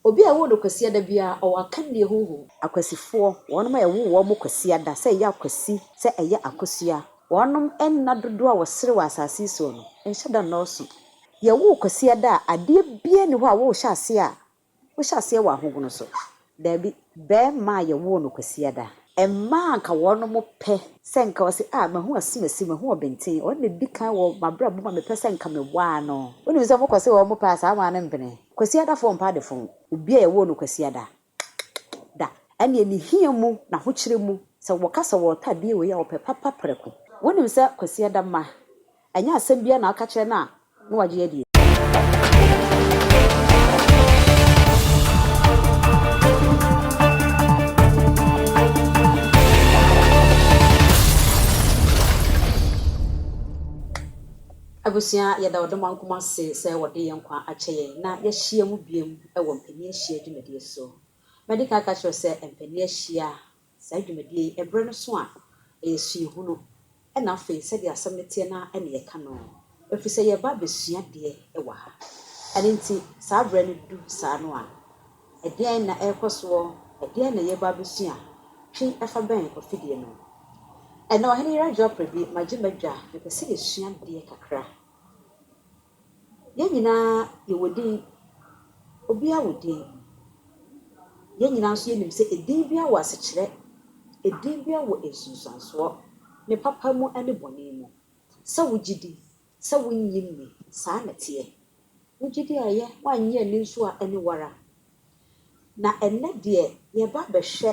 Obi a ɛwoo no Kwasiada biara, ɔwɔ akannie honhom. Akwasifoɔ, wɔnom a ɛwoo wɔn mo Kwasiada, sɛ ɛyɛ akwasi, sɛ ɛyɛ akosua, wɔnom nna dodoɔ a wɔsere wɔ asase yi soɔ no nhyɛ da nnɔɔso. Yɛwoo Kwasiada a, adeɛ biara nni hɔ a worehyɛ aseɛ a, wohyɛ aseɛ wɔ ahogono so. Daabi. Bɛɛma a yɛwoo no Kwasiada. Ɛmma a anka wɔnom pɛ sɛ nka ɔse ah mahu asumasi, mahu ɔbenten, ɔno na ɛdi kan wɔ mabrabɔ mu a mepɛ sɛ nka mewaa no. Wonim sɛ mokɔ se wɔnom pɛ a saa waa no mpene. Kwasiada fɔɔ mpa de fɔɔ obi a yɛwoo no Kwasiada da. Ɛneɛ ne hia mu, n'ahokyere mu, sɛ wɔka sɛ wɔɔtɔ adeɛ wei a ɔpɛ papa prɛko. Wonim sɛ Kwasiada mma Ɛnyɛ asɛm biara na ɔka kyerɛ no a na wagye adie. Abusua yɛda ɔdomankoma ase sɛ wɔde yɛn nkwa akyɛ yɛn na yɛahyia mu biom wɔ mpanin ahyia dwumadie so. Madi kan aka akyerɛ wo sɛ mpanin ahyia Saa dwumadie yi, ɛberɛ no so a, ɛyɛ suahunu, ɛna afei sɛdeɛ asɛm no teɛ no ara na yɛka no, ɛfiri sɛ yɛreba abɛsua adeɛ wɔ ha. Ɛno nti, saa berɛ no du saa no a, ɛdeɛn na ɛrekɔ soɔ? Ɛdeɛn na yɛreba abɛsua? Twe fa bɛn ɔfidie no. Ɛnnɛ, Ɔhene Yerajo Aprabi, magye m'adwa, mepɛ sɛ yɛsua adeɛ kakra. Yɛn nyinaa yɛwɔ din, obiara wɔ din. Yɛn nyinaa nso yɛnim sɛ edin biara wɔ asekyerɛ, edin biara wɔ nsunsuansoɔ, ne papa mu ne bɔne mu. Sɛ wogye di, sɛ wonnye nni, saa na ɛteɛ. Wogye di a ɛyɛ, woannye anni nso a ɛne wo ara. Na ɛnnɛ deɛ yɛreba abɛhwɛ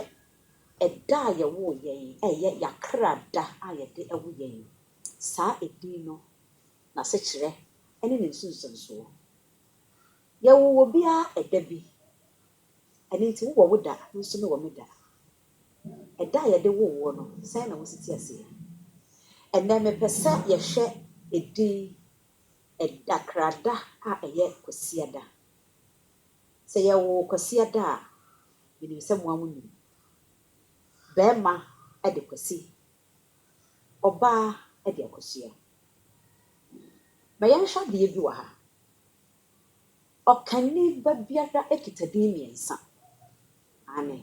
ɛda a yɛwoo yɛn, ɛyɛ yɛn akra da a yɛde wo yɛn, saa edin no. n'asekyerɛ ne ne nsunsuansoɔ. Yɛwoo obiara ɛda bi, ɛno nti wowɔ wo da, me nso mewɔ me da. Ɛda a yɛde woo woɔ no, sɛn na wosi te aseɛ? Ɛnnɛ mepɛ sɛ yɛhwɛ edin ɛda, krada a ɛyɛ Kwasiada. Sɛ yɛwoo Kwasiada a, menim sɛ moa monim. Barima de Kwasi Ɔbaa de akosua. Ma yɛnhwɛ adeɛ bi wɔ ha. Ɔkani ba biara kita din mmiɛnsa. Aane.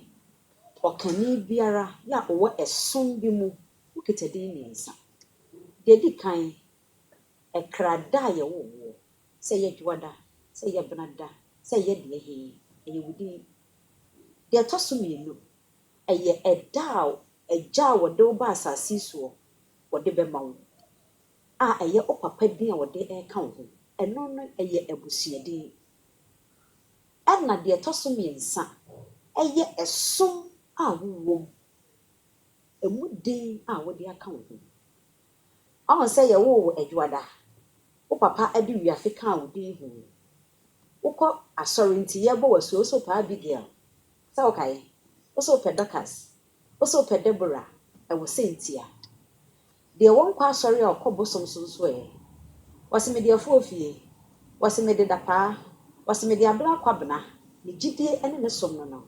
Ɔkani biara a ɔwɔ ɛsom bi mu, ɔkita din mmiɛnsa. Deɛ ɛdi kan, ɛkra da a yɛwoo woɔ. Sɛ ɛyɛ Dwoada, sɛ ɛyɛ Benada, sɛ ɛyɛ deɛ he, ɛyɛ wo din. Deɛ ɛtɔ so mmienu, Ɛyɛ ɛda a Agya a ɔde wo baa asase yi soɔ ɔde bɛma wo, a ɛyɛ wo papa din a ɔde reka wo ho, ɛno no yɛ abusua din. Ɛna deɛ ɛtɔ so mmiɛnsa yɛ ɛsom a wowɔ mu, ɛmu din a wode aka wo ho. Woahu sɛ yɛwoo wo Adwoada, wo papa de Wiafe kaa wo din ho. Wokɔ asɔre nti yɛrebɔ wo asu a, wose wo paa Abigail, Sɛ wokae, wo so wopɛ Dorcas, wo so wopɛ Deborah, ɛwɔ sɛ ntia. Deɛ wɔnkɔ asɔre a ɔkɔ bosom so nso ɛ? Wɔse mede afuo fie, wɔse mede dapaa, wɔse mede aberɛ akwabena, ne gyidie ne me som no no.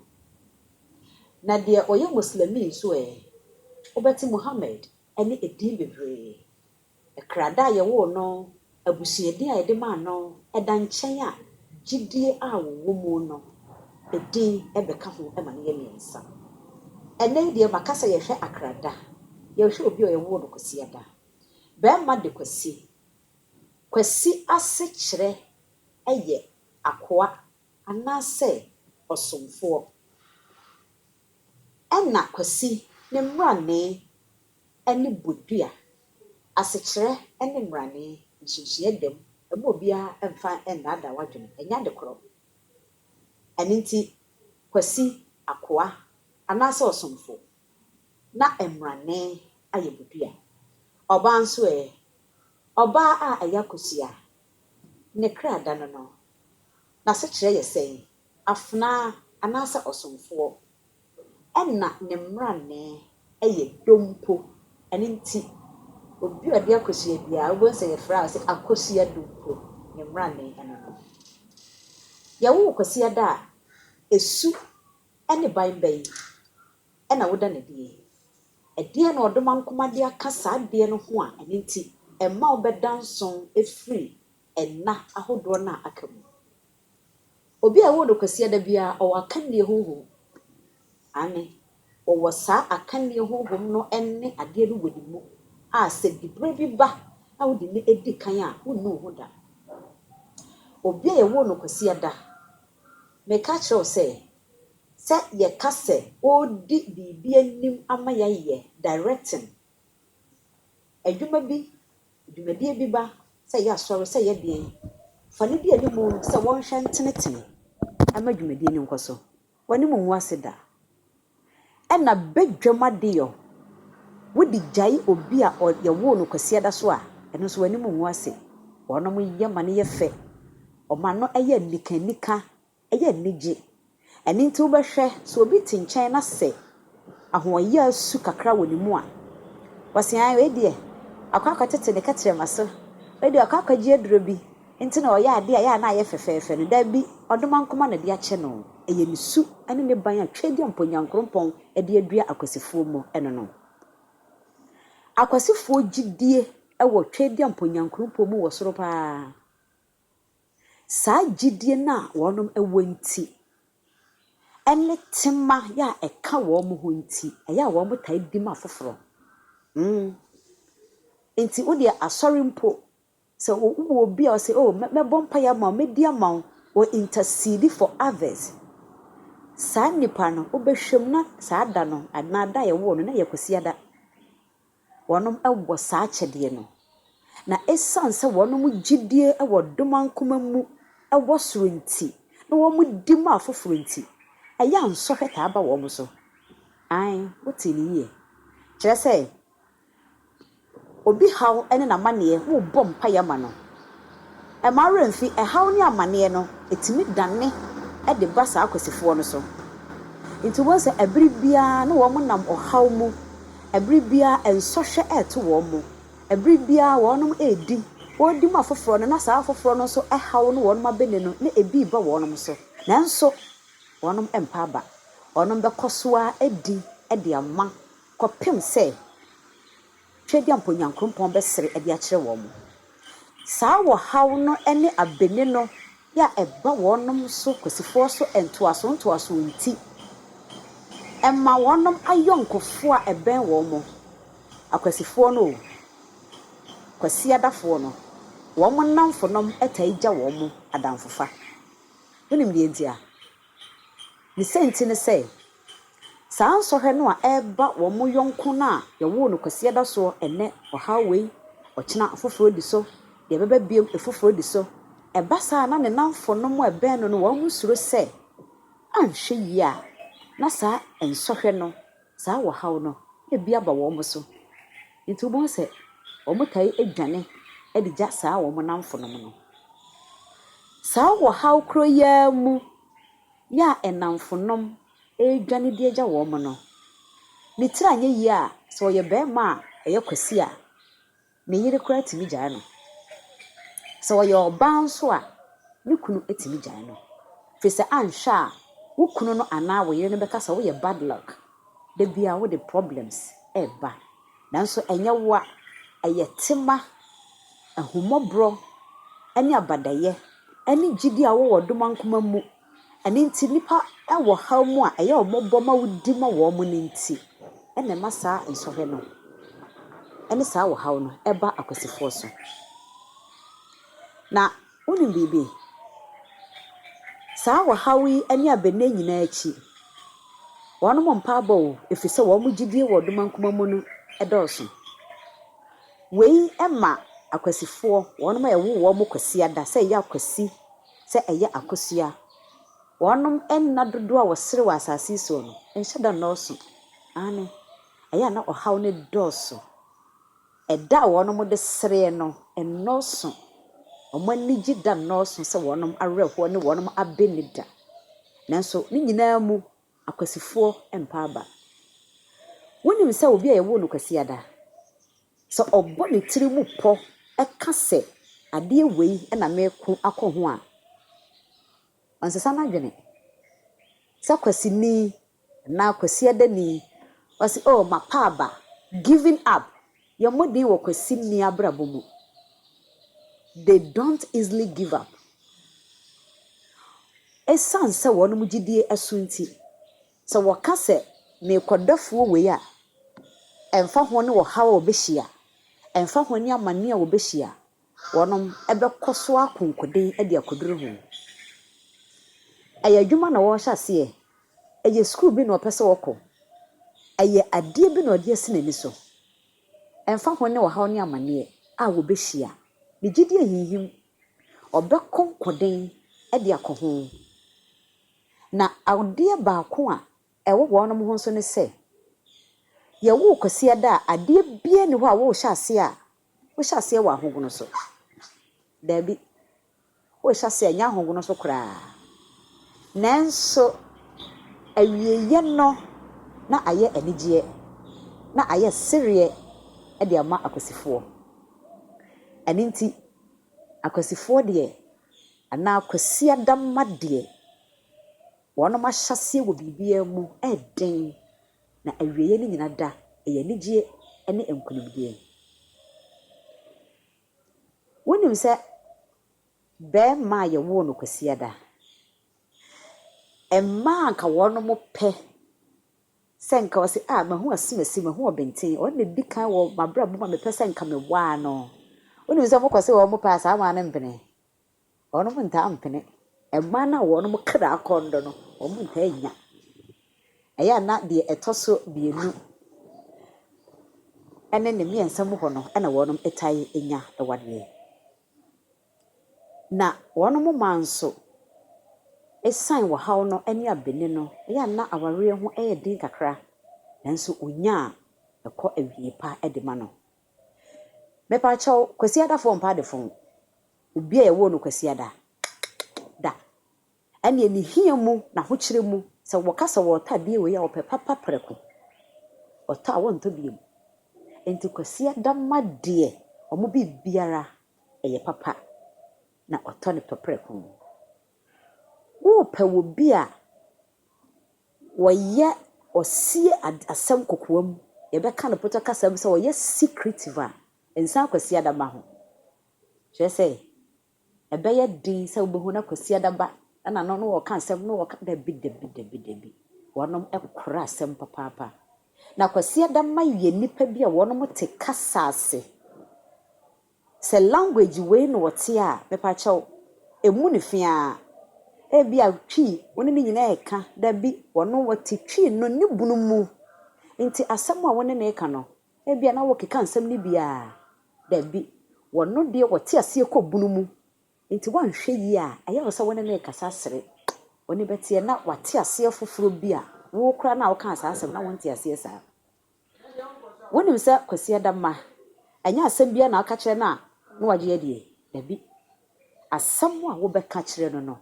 Na deɛ ɔyɛ Moslemi nso ɛ? Wobɛte Muhammad ne edin bebree Krada a yɛwoo no, abusua din a yɛde maa no, ɛda nkyɛn a, gyidie a wɔwɔ mu no din bɛka ho ma no yɛ mmiɛnsa. Ɛnnɛ yi deɛ, maka sɛ yɛhwɛ Akrada, yɛhwɛ obi a yɛwoo no Kwasiada. Barima de Kwasi. Kwasi asekyerɛ yɛ akoa anaasɛ ɔsomfoɔ. Ɛna Kwasi ne mmrane ne bodua, asekyerɛ ne mmrane, nsunsueɛ dam, ɛmma obiara mfa nnaadaa w'adwene, ɛnyɛ ade korɔ. Ɛno nti Kwasi, akoa anaasɛ ɔsomfo, na mmrane ayɛ bodua. Ɔbaa nso ɛ? Ɔbaa a ɛyɛ akosua, ne kra da no no, n'asekyerɛ yɛ sɛn? Afenaa anaasɛ ɔsomfoɔ? Ɛna ne mmrannee yɛ dompo. Ɛno nti, obi a ɔde akosua biara, wobɛhu sɛ yɛfrɛ a ɔse akosua dompo, ne mmrannee ɛno no. Yɛwo Kwasiada a, ɛsu ne ban bɛn na woda no adie? Ɛdeɛn na Ɔdomankoma de aka saa adeɛ no ho a ɛno nti ɛma wobɛda nso firi ɛna ahodoɔ no a aka mu? Obi a ɛwɔ no Kwasiada biara, ɔwɔ akannie honhom. Aane, ɔwɔ saa akannie honhom no ne adeɛ no wɔ ne mu a sɛ diberɛ bi ba na wode no di kan a, wonni wo ho da. Obi a yɛwoo no Kwasiada, meka akyerɛ wo sɛ, sɛ yɛka sɛ ɔredi biribi anim ama yɛayɛ, directing, Adwuma bi, dwumadie bi ba sɛ ɛyɛ asɔre, sɛ ɛyɛ deɛn, fa no di anim sɛ wɔnhwɛ ntenetene ma dwumadie no nkɔ so. W'anim ngu ase da. Ɛna badwam adeyɔ, wode gyae obi a yɛwoo no Kwasiada so a, ɛno nso w'anim ngu ase. Wɔnom yɛ ma no yɛ fɛ, wɔma no yɛ anikanika Ɛyɛ anigye. Ɛno nti wobɛhwɛ, sɛ obi te nkyɛn na sɛ ahoɔyaa su kakra wɔ ne mu a, wasi ae, wei deɛ wakɔ akɔtete ne kɛtrɛma so, wei deɛ wakɔ akɔgye aduro bi nti na ɔyɛ adeɛ a ɛyɛ a na ayɛ fɛfɛɛfɛ no. Dabi, ɔdoma nko ara na ɛde akyɛ no. Ɛyɛ ne su ne ne ban a Tweadia Mponyankoropɔn de adua akwasifoɔ mu no no. Akwasifoɔ gyidie wɔ Tweadia Mponyankoropɔn mu wɔ soro pa ara. Saa gyidie no a wɔnom wɔ nti, ɛne tema yɛ a ɛka wɔn ho nti, ɛyɛ a wɔn taa di ma foforɔ. Mm. Nti wo deɛ asɔre mpo, sɛ wo wɔ obi a ɔsɛ, oh, mɛ, mɛbɔ mpaeɛ ama wo, mɛdi ama wo, or intercede for others. Saa nipa no, wobɛhwɛ mu na saa da no, anaa da a yɛwoo no, na ɛyɛ Kwasiada. Wɔnom wɔ saa akyɛdeɛ no. Na esiane sɛ wɔnom gyidie wɔ domankoma mu wɔ soro nti, na wɔn di ma afoforɔ nti, ɛyɛ a nsɔhwɛ taa ba wɔn so. Aane, wotee no yie. Kyerɛ sɛ, obi haw ne n'amaneɛ, wobɔ mpaeɛ ma no. Ɛmma wo werɛ mfi ɛhaw ne amanneɛ no, ɛtumi dane de ba saa akwasifoɔ no so. Nti wobɛhu sɛ ɛberɛ biara na wɔn nam ɔhaw mu, ɛberɛ biara nsɔhwɛ reto wɔn mu, ɛberɛ biara wɔn redi, wɔredi ma afoforɔ no na saa afoforɔ no nso ɛhaw ne wɔn abɛne no na ɛbi reba wɔn so, nanso wɔn rempa aba. Wɔn bɛkɔ so ara adi de ama kɔpem sɛ. Hwɛ di a mpo Nyankrompɔn bɛsere de akyerɛ wɔn. Saa wɔhaw no ne abene no yɛ a ɛba wɔnom so kwasifoɔ so ntoaso ntoaso nti, ɛma wɔnom ayɔnkofoɔ a ɛbɛn wɔn mo, akwasifoɔ no o, kwasiadafoɔ no, wɔn nnamfonom taa gya wɔn mo adamfofa. Wonim deɛ nti a? Ne sianti ne sɛ, saa nsɔhwɛ no a ɛreba wɔn yɔnko no a wɔwoo no Kwasida da soɔ, ɛnnɛ ɔhaw wei, ɔkyena afoforɔ di so, deɛ ɛbɛba biom afoforɔ di so. Ɛba saa a na ne nnamfonom a ɛbɛn no no wɔn suro sɛ anhwɛ yie a na saa nsɔhwɛ no Saa ɔhaw no bi aba wɔn so nti wobɛhu sɛ wɔtae dwane de gya saa wɔn nnamfonom no. Saa ɔhaw koro yi ara mu yɛ a nnamfonom redwane de agya wɔn no, ne tiri anyɛ yie a, sɛ ɔyɛ barima a ɛyɛ kwasea a, Ne yere koraa tumi gyae no. Sɛ ɔyɛ ɔbaa nso a, ne kunu tumi gyae no. Ɛfiri sɛ anhwɛ a, wo kunu no anaa wo yere no bɛka sɛ woyɛ bad luck, da biara wode problems reba. Nanso ɛnyɛ woa, ɛyɛ tema, ahummɔborɔ ne abadayɛ ne gyidie a wowɔ dom ankoma mu Ɛno nti, nnipa wɔ haw mu a ɛyɛ wɔn bɔ ma wodi ma wɔn no nti na ɛma saa nsɔhwɛ no ne saa ɔhaw no ba akwasifoɔ so. Na wonim biribi? Saa ɔhaw yi ne abɛnee nyinaa akyi, wɔn mpa abɔ o, ɛfiri sɛ wɔn gyidie wɔ ɔdomankoma mu no dɔɔso. Wei ma akwasifoɔ, wɔn a ɛwo wɔn Kwasiada sɛ ɛyɛ akwasi sɛ ɛyɛ akosua. Wɔnom nna dodoɔ a wɔsere wɔ asase yi soɔ no nhyɛ da nnɔɔso. Aane, ɛyɛ a na ɔhaw no dɔɔso. Ɛda a wɔnom de sereɛ no nnɔɔso. Wɔn anigye da nnɔɔso sɛ wɔnom awerɛhoɔ ne wɔnom abɛ nni da. Nanso ne nyinaa mu Akwasifoɔ mpa aba. Wonim sɛ obi a yɛwoo no Kwasiada, sɛ ɔbɔ ne tiri mu pɔ ka sɛ adeɛ wei na meko akɔ ho a, ɔnsesa n'adwene. Sɛ Kwasini anaa Kwasiadani, ɔse oh mapa aba, giving up, Yɛ mmɔden wɔ kwasinni abrabɔ mu. They don't easily give up. Esiane sɛ wɔn gyidie so nti, sɛ wɔka sɛ, Merekɔ dɔfoɔ wei a, ɛmfa ho ne ɔhaw a ɔbɛhyia, ɛmfa ho ne amane a ɔbɛhyia, Wɔnom bɛkɔ so akonkoden de akoduru he? Ɛyɛ adwuma na wɔɔhyɛ aseɛ? Ɛyɛ sukuu bi na ɔpɛ sɛ ɔkɔ? Ɛyɛ adeɛ bi na ɔde asi n'ani so? Ɛmfa ho ne ɔhaw ne amaneɛ a wɔbɛhyia, ne gyedie nhinhim, ɔbɛkonkoden de akɔ ho. Na adeɛ baako a ɛwɔ wɔnom ho nso ne sɛ, yɛwoo Kwasiada a, adeɛ biaa nni hɔ a woohyɛ aseɛ a Wohyɛ aseɛ wɔ ahogono so? Daabi. Worehyɛ aseɛ a, ɛnyɛ ahogono so koraa. Nanso, awieeɛ no na ayɛ anigyeɛ, na ayɛ sereɛ de ama akwasifoɔ. Ɛno nti, akwasifoɔ deɛ, anaa Kwasiada mma deɛ, wɔn ahyɛaseɛ wɔ biribiara mu yɛ den na awieɛ no nyina da yɛ anigyeɛ ne nkonimdie. Wonim sɛ barima a yɛwoo no Kwasiada, mmaa a anka wɔn mo pɛ sɛ nka wɔse ah mahu asimasi, mahu ɔbenten, ɔno na ɛdi kan wɔ mabrabɔ mu a mepɛ sɛ nka mewaa no. Wonim sɛ wɔkɔ se wɔn pɛ a saa waa no mpene? Wɔnom ntaa mpene. Mmaa no a wɔnom kra akɔn do no, wɔnom ntaa nnya. Ɛyɛ a na deɛ ɛtɔ so mmienu ɛne ne mmiɛnsa mu hɔ no ɛna wɔnom tae nya awadeɛ. Na wɔnom mmaa nso, ɛsiane wɔhaw no ɛne abene no, ɛyɛ a na awareɛ ho ɛyɛ den kakra, nanso wɔnya a, ɛkɔ awie pa ɛde ma no. Mepaakyɛw, Kwasi Adafo Ɔmpa Adefo. Obi a yɛwoo no Kwasiada da, ɛnneɛ ne hia mu, n'ahokyerɛ mu, sɛ wɔka sɛ wɔretɔ adeɛ wei a, ɔpɛ papa prɛko. Ɔtɔ a, wɔntɔ biom. Enti Kwasiada ma deɛ wɔn biribiara yɛ papa, na ɔtɔ no pɛ prɛko. Worepɛ wɔ bi a wɔyɛ, ɔsie ad, asɛm kokoa mu, yɛbɛka no Potɔ kasa mu sɛ ɔyɛ secretive a, nsan Kwasiada ma ho. Kyerɛ sɛ, ɛbɛyɛ den sɛ wobɛhu na Kwasiada ba na no ne wɔreka asɛm na wɔka, dabi, dabi, dabi, dabi. Wɔnom kora asɛm papaapa. Na Kwasiada mma yɛ nnipa bi a wɔnom te kasa ase. Sɛ language wei na wɔte a, mepakyɛw, ɛmmu no fi ara. Ebia Twi, wo ne ne nyinaa reka, dabi, wɔnom wɔte Twi no ne bunu mu. Nti asɛm a wo ne no reka no, ebia na wokeka nsɛm no bi a, Dabi, wɔno deɛ wɔte aseɛ kɔ bunu mu, nti woanhwɛ yie a, ɛyɛ wo sɛ wone no rekasa sere. W'ani bɛteɛ na wate aseɛ foforɔ bi a wo koraa no a wokaa saa asɛm no na wonte aseɛ saa. Wonim sɛ Kwasi Adamma, ɛnyɛ asɛm biara na woka kyerɛ no a na wagye adie. Dabi, asɛm a wobɛka kyerɛ no no,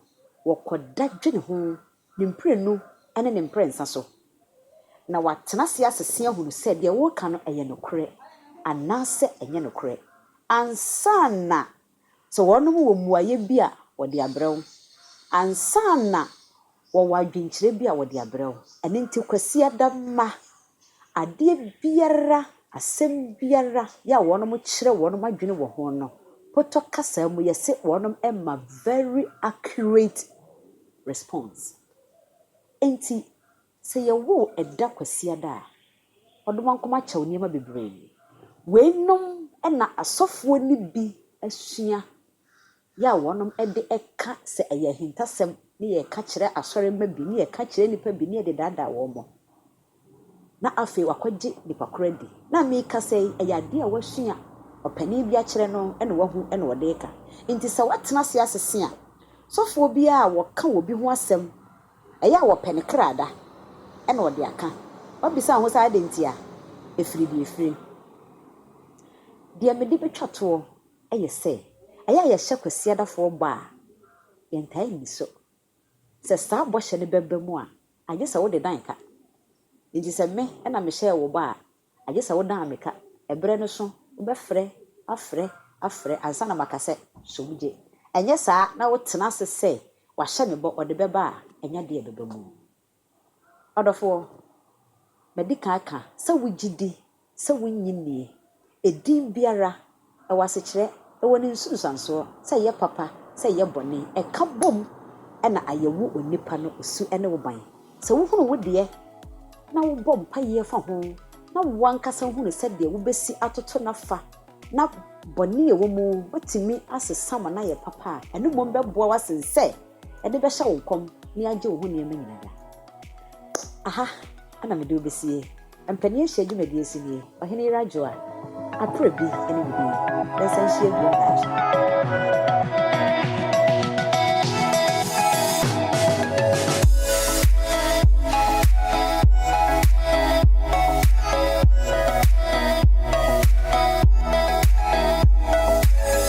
wɔkɔda dwene ho Ne mprenu ne ne mprɛnsa so, na watena ase asese ahunu sɛ deɛ woreka no yɛ nokorɛ anaasɛ ɛnyɛ nokorɛ ansa na, sɛ wɔnom wɔ mmuaeɛ bi a wɔde abrɛ wo, ansa na wɔwɔ adwenkyerɛ bi a wɔde abrɛ wo. Ɛno nti Kwasiada mma Adeɛ biara, asɛm biara yɛ a wɔkyerɛ wɔn adwene wɔ ho no, Potɔ kasa mu yɛse wɔmma very accurate response. Enti sɛ yɛwo ɛda Kwasiada a, Ɔdomankoma kyɛw nneɛma bebree. Weinom na asɔfoɔ no bi asua Yɛ a wɔnom de ka sɛ ɛyɛ ahintasɛm ne yɛka kyerɛ asɔremma bi ne yɛka kyerɛ nnipa bi ne yɛde daadaa wɔn mo na afei wakɔgye nipa koro adi. Na a me kasa yi ɛyɛ adeɛ a wasua ɔpanin bi akyerɛ no ɛna wahu ɛna ɔde reka. Nti sɛ watena ase asese a sɔfoɔ bi a wɔka wɔ bi ho asɛm ɛyɛ a wɔpɛ ne kra da ɛna ɔde aka. Wabisa ho sɛ adɛn nti a ɛfiri deɛ ɛfiri. Deɛ mede bɛtwa toɔ. Ayɛ sɛ, ɛyɛ a yɛhyɛ Kwasiadafoɔ bɔ a, yɛntaa nni so. Sɛ saa bɔhyɛ no bɛba mu a, agye sɛ wode dan ka. Enti sɛ me na mehyɛɛ wo bɔ a, agye sɛ wodan me ka. Ɛberɛ no so, wobɛfrɛ, afrɛ, afrɛ ansa na maka sɛ, So wogye? Ɛnyɛ saa na wotena ase sɛ, Wahyɛ me bɔ, ɔde bɛba a, ɛnyɛ adeɛ a ɛbɛba mu. Ɔdɔfoɔ, madi kan aka sɛ wogye di sɛ wonnye nnie, edin biara, ɛwɔ asekyerɛ, ɛwɔ ne nsunsuansoɔ, sɛ ɛyɛ papa, sɛ ɛyɛ bɔne, ɛka bom na ayɛ wo onipa no osu ne wo ban. Sɛ wohunu wo deɛ na wobɔ mpaeɛ fa ho na wo ankasa hunu sɛdeɛ wobɛsi atoto no afa na bɔne a ɛwɔ mu bɛtumi asesa ma no ayɛ papa a, ɛno mmom bɛboa wo asen sɛ, ɛde bɛhyɛ wo nkɔm ne agye wo ho nneɛma nyina da. Aha na mede wo bɛsie. Mpanin ahyia dwumadie si nie, Ɔhene Yer Adwoa, Aprɛ bi ne wo din. Yɛnsan nhyia bio daakye.